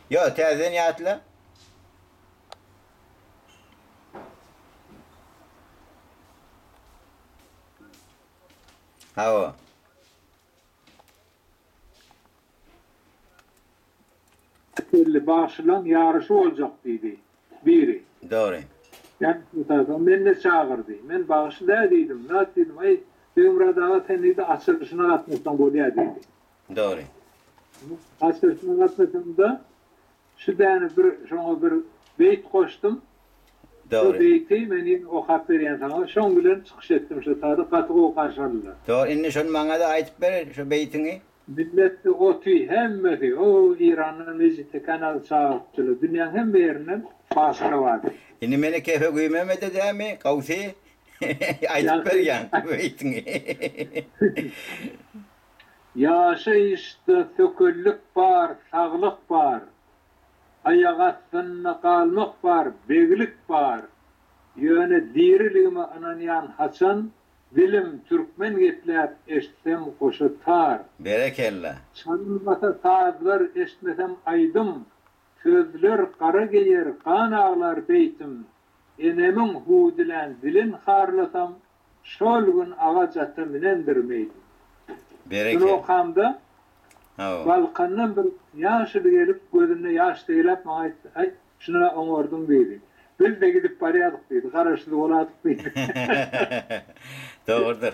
Ýo, täzeden ýatla. Hawa. Belli, bagşylaň ýaryşy boljak diýdi biri. Dogry. Ýa-da meni-de çagyr diý. Men bagşy dä diýdim. Nat diýdim, aý, Begmyrat aga sen diýdi açylyşyna gatnaşsaň bolýa diýdi. Dogry. Haçasyna gatnaşamda şu däne bir şoňa bir beýt goşdum. Dogry. Şo beýti men ýene okap berýän saňa. Şoň bilen çykyş etdim şu sada gaty gowy garşy aldylar. Dogry indi şony maňada aýdyp ber şo beýtiňi. Milletde oty hemmesi o Irandan mejitde kanal çagyrypdylar. Dünýäň hemme ýerinden başara bardy. Indi meni kefe güýmemede dämi Gawsy aýdyp ber ýaňky beýtiňi. Ýaşaýyşda sökellik bar, saglyk bar. Aýak astynda galmak bar, beglik bar. Ýöne diriligime ynanýan haçan, Dilim türkmen gepläp eşitsem goşa tar. Berekella. Çalynmasa sazlar eşitmesem aýdym, Sözler gara geýer gan aglar beýtim. Enemiň hudilän dilin harlasam, Şol gün agaç ata minendirim eýdim. Şunokamda Balkandan bir ýaşuly gelip, gözünde ýaş seýläp maňa aýtdy, Aý, şuna-a oňardyň diýdi. Biz-de gidip barýardyk diýdi. Garaşsyz boladyk diýdi. Dogrudyr.